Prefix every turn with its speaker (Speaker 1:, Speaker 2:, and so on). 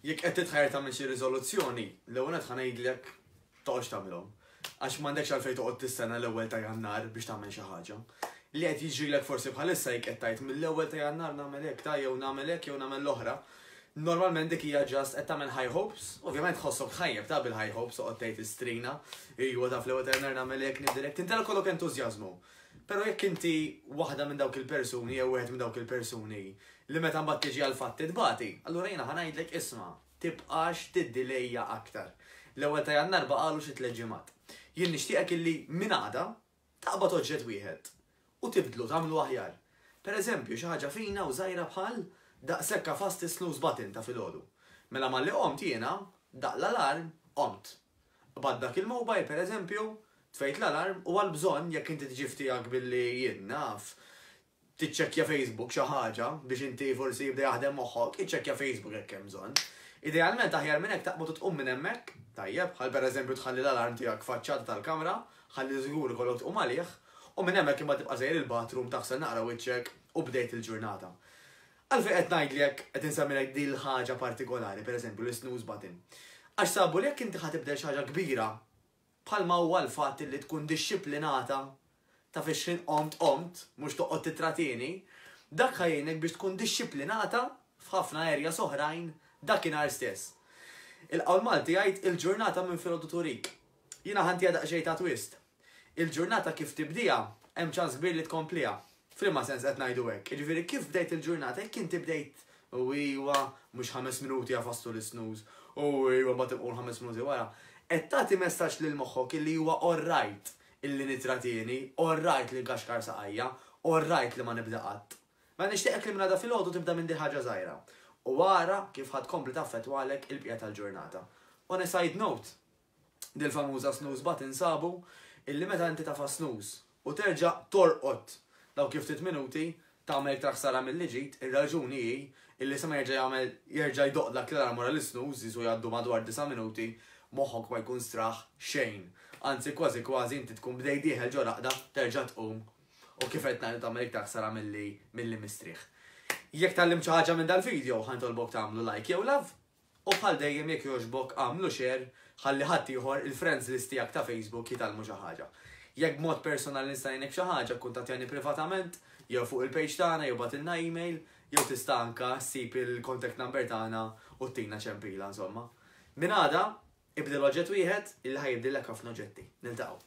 Speaker 1: Jekk qed titħajr tagħmel xi riżoluzzjoni, l-ewwel qed ngħidlek toqgħodx tagħmilhom. Għax m'għandekx għalfejn toqgħod tistenna l-ewwel ta' Jannar biex tagħmel xi ħaġa. Li qed jiġrilek forsi bħalissa jekk qed tgħid mill-ewwel ta' Jannar nagħmel hekk ta' jew nagħmel hekk jew nagħmel l-oħra. Normalment dik hija ġast qed tagħmel high hopes, ovvjament tħossok tħajjeb ta' bil-high hopes toqgħod tgħid istrina, ejwa taf l-ewwel ta' Jannar nagħmel hekk nibdilek, tintelek kollok entużjażmu. Però jekk inti waħda minn dawk il-persuni jew wieħed minn dawk il-persuni li meta mbagħad tiġi għall-fatti tbati, allura jiena ħa ngħidlek isma', tibqax tiddilejja aktar. L-ewwel ta' Jannar baqagħlu xi tliet ġimgħat. Jien nixtieqek illi minn għada taqbad oġġett wieħed u tibdlu, tagħmlu aħjar. Per eżempju, xi ħaġa fina u żgħira bħal daqshekk għafast is-snooze button ta' filgħodu. Mela malli qomt jiena, daqq l-alarm, qomt. B'għad dak il-mobile, per eżempju, tfejt l-alarm u għal bżonn, jekk inti tiġi f'tiegħek billi, jien naf, tiċċekkja Facebook xi ħaġa biex inti forsi jibda jaħdem moħħok, iċċekkja Facebook jekk hemm bżonn. Idealment aħjar minn hekk taqbad u tqum minn hemmhekk, tajjeb, bħal per eżempju tħalli l-alarm tiegħek f'faċċata tal-kamra, ħalli żgur ikollok tqum għalih, u minn hemmhekk imbagħad tibqa' sejjer il-bathroom taħsel naqra wiċċek u bdejt il-ġurnata. Għalfejn qed ngħid li jekk qed insemmilek din l-ħaġa partikolari, per eżempju, l-isnooze button? Għax sabu li jekk inti ħa tibdel xi ħaġa kbira, bħalma huwa l-fatt li tkun dixxiplinata, taf ix-xħin qomt qomt, mhux toqgħod tittratieni, dak ħa jgħinek biex tkun dixxiplinata f'ħafna areas oħrajn dakinhar stess. Il-qawl Malti jgħid il-ġurnata minn filgħodu turik. Jiena ħa ntiha daqsxejn ta' twist. Il-ġurnata kif tibdieha, hemm ċans kbir li tkompliha. F'liema sens qed ngħidu hekk? Jiġifieri kif bdejt il-ġurnata, jekk inti bdejt u iwa, mhux ħames minuti għafas tul is-snooze, u iwa mbagħad inqum ħames minuti wara, qed tagħti messaġġ lil moħħok illi huwa orrajt illi nitratieni, orrajt li nkaxkar saqajja, orrajt li ma nibda qatt. Mela nixtieqek li minn għada filgħodu tibda minn dil-ħaġa żgħira u ara kif ħa tkompli taffettwalek il-bqija tal-ġurnata. On a side note, dil famuża snooze button sabu illi meta inti tafa' snooze u terġa' torqod dawk il-ftit minuti tagħmel iktar ħsara milli ġid, ir-raġuni hi illi sa ma jerġa' jagħmel jerġa' jdoqq dak l-alarm wara l-isnooze jisu jgħaddu madwar disa' minuti moħħok ma jkun straħ xejn anzi kważi kważi inti tkun bdejt dieħel ġo raqda terġa' tqum u kif qed ngħid tagħmel iktar ħsara milli mistrieħ. Jekk tgħallimt xi ħaġa minn dal-video ħa nitolbok tagħmlu like jew love. U bħal dejjem jekk jogħġbok agħmlu share ħalli ħadd ieħor il-friends list tiegħek ta' Facebook jitgħallmu xi ħaġa. Jekk b'mod personali nista' ngħinek b'xi ħaġa kkuntattjani privatament jew fuq il-page tagħna jew bagħtilna email jew tista' anke ssib il-contact number tagħna u ttina ċempila insomma. Minn għada, ibdel oġġett wieħed illi ħa jibdillek ħafna oġġetti. Niltaqgħu.